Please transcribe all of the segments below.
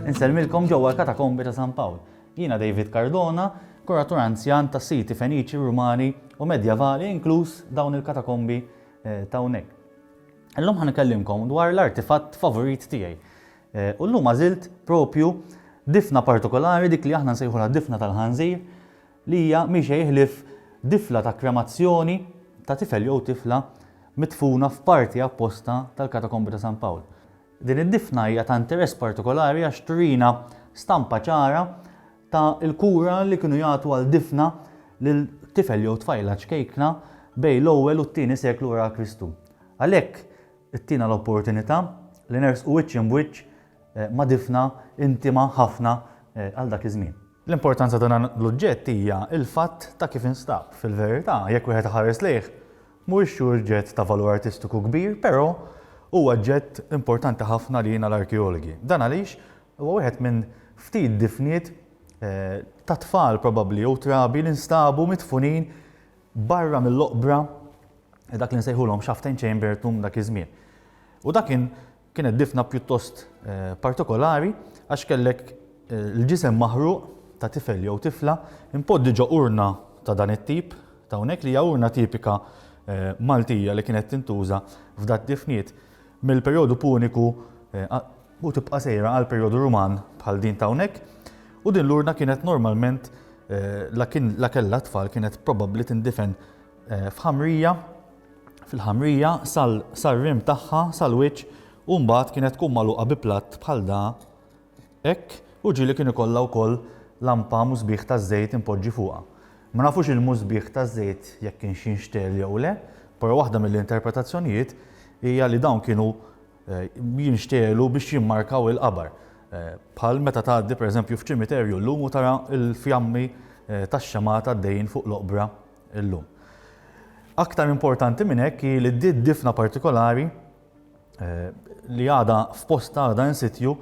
Inselmilkom ġewwa l-katakombi ta' San Pawl. Jiena David Cardona, kuratur anzjan ta' siti Feniċi, Rumani u Medjavali inkluż dawn il-katakombi eh, ta' hawnhekk. Illum ħan ikellimkom dwar l-artifatt favorit tiegħi. U llum għażilt proprju difna partikolari dik li aħna nsejħulha d-difna tal-ħanżir li hija mhi xejn ħlief difla ta' kremazzjoni ta' tifel jew tifla midfuna f'parti apposta tal-Katakombi ta' San Pawl. Din id-difna hija ta' interess partikolari għax turina stampa ċara ta' l-kura li kienu jagħtu għal difna lil tifel jew tfajla ċkejkna bejn l-ewwel u t-tieni seklu wara Kristu. Għalhekk, Ittina l-opportunità li nersqu wiċċ imb'wiċċ ma' difna intima ħafna għal dak iż-żmien. L-importanza ta' dan l-uġġett hija l-fatt ta' kif instab. Fil-verità, jekk wieħed iħares lejh, mhuwiex xi uġġett ta' valur artistiku kbir, però huwa oġġett importanti ħafna għalina l-arkeologi. Dan għaliex huwa wieħed minn ftit difniet ta' tfal probabbli jew trabi li nstabu midfunin barra mill-oqbra dak li nsejħulhom Shaftain Chamber tum dak iż-żmien. U dak kien kienet difna pjuttost partikolari għax kellek l-ġisem maħruq ta' tifel jew tifla impodddi ġo urna ta' dan it-tip t'hawnhekk li hija urna tipika Maltija li kienet tintuża f'dad-difniet. mill-perjodu Puniku u tibqa' sejra għal perjodu Ruman bħal din ta' hawnhekk, u din l-urna kienet normalment la kien la kellha t-tfal kienet probabbli tindifen f'ħamrija fil-ħamrija sal-rim tagħha sal-wiċċ u mbagħad kienet tkun magħluqa bi platt bħal da Hekk, u ġieli kien ikollha wkoll lampa musbieħ ta' żejt impoġġi fuqha. Ma nafux il-musbieħ ta' żejt jekk kienx jinxtegħel jew le, però waħda mill-interpretazzjonijiet hija li dawn kienu jinxtegħlu biex jimmarkaw il-qabar, bħal meta tgħaddi pereżempju f'ċimiterju llum u tara l-fjammi tax-xemgħat għaddejjin fuq l-oqbra llum. Aktar importanti minn hekk hi li d-difna partikolari li għadha f'postha għadha in sitju,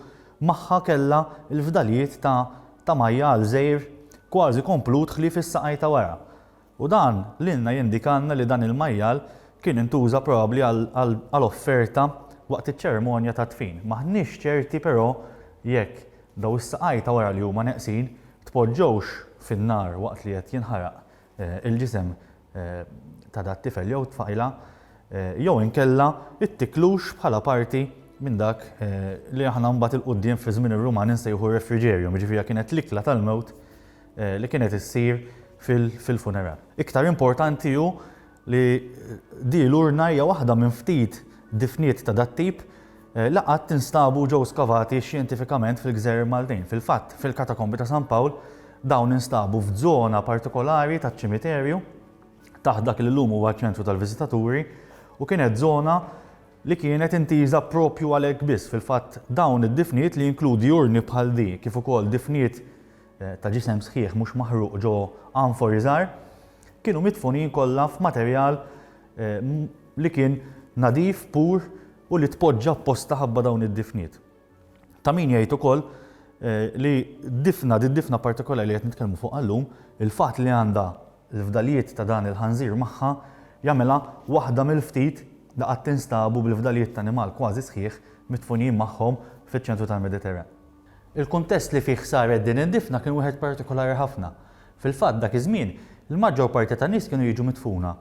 magħha kellha l-fdalijiet ta' ta' majjal żgħir kważi komplut ħlief is-saqaj ta' wara. U dan lilna jindikalna li dan il-majjal kien intuża probabbli għal għal offerta waqt iċ-ċerimonja tad-dfin. M'aħniex ċerti però jekk dawn is-saqaj ta' wara li huma neqsin tpoġġewx fin-nar waqt li qed jinħaraq il-ġisem ta' dat-tifel jew tfajla jew inkella it-tiklux bħala parti minn dak li aħna mbagħad il-quddiem fi żmien ir-Rumani nsejħu refrigerium, jiġifieri kienet l-ikla tal-mewt li kienet issir fil-funeral. Iktar importanti hu li di l-urna hija waħda minn ftit difniet ta' dat-tip Laqgħat instabu u ġew skavati xjentifikament fil-gżejjer Maltin. Fil-fatt, fil-Katakombi ta' San Pawl, dawn instabu f'żona partikolari taċ-ċimiterju, taħt dak li llum huwa ċ-ċentru tal-viżitaturi, u kienet żona li kienet intiża proprju għalhekk biss. Fil-fatt, dawn id-difniet, li jinkludi urni bħal di kif ukoll difniet ta' ġisem sħiħ mhux maħruq ġo anfori żgħar, kienu midfunin kollha f'materjal li kien nadif, pur, u li tpoġġa apposta ħabba dawn id-difniet. Ta' min jgħid ukoll li difna, di difna partikolari li qed nitkellmu fuq għallum, il-fatt li għandha l-fdalijiet ta' dan il-ħanżir magħha jagħmilha waħda mill-ftit li qatt instabu bil-fdalijiet ta' animal kważi sħiħ midfunijin magħhom fiċ-ċentru tal-Mediterran. Il-kuntest li fih saret din id-difna kien wieħed partikolari ħafna. Fil-fatt dak iż-żmien, il-maġġor parti tan-nies kienu jiġu midfuna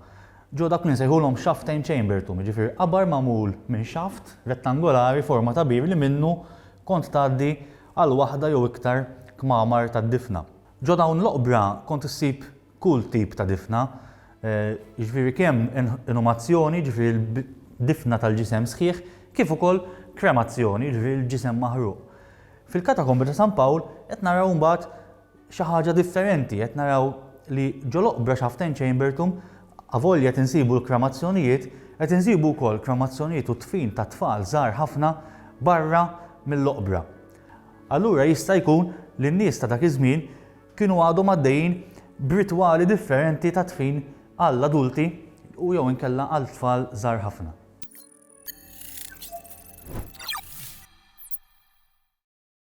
Ġo dak li nsejħulhom xaftejn chambertum, jiġifieri qabar magħmul minn xaft rettangolari forma ta' bir li minnu kont tgħaddi għal waħda jew iktar kmamar tad-difna. Ġo dawn l-oqbra kont issib kull tip ta' difna, jiġifieri kemm inumazzjoni, jiġifieri l-difna tal-ġisem sħiħ, kif ukoll kremazzjoni, jiġifieri l-ġisem maħruq. Fil-Katakombi ta' San Pawl qed naraw imbagħad xi ħaġa differenti, qed naraw li ġol-oqbra Shaften Chamberthum avolja qed insibu l-kremazzjonijiet, qed insibu wkoll kremazzjonijiet u dfin ta' tfal żgħar ħafna barra mill-oqbra. Allura jista' jkun li n-nies ta' dak iż-żmien kienu għadhom għaddejjin b'ritwali differenti ta' dfin għall-adulti u jew inkella għal tfal żgħar ħafna.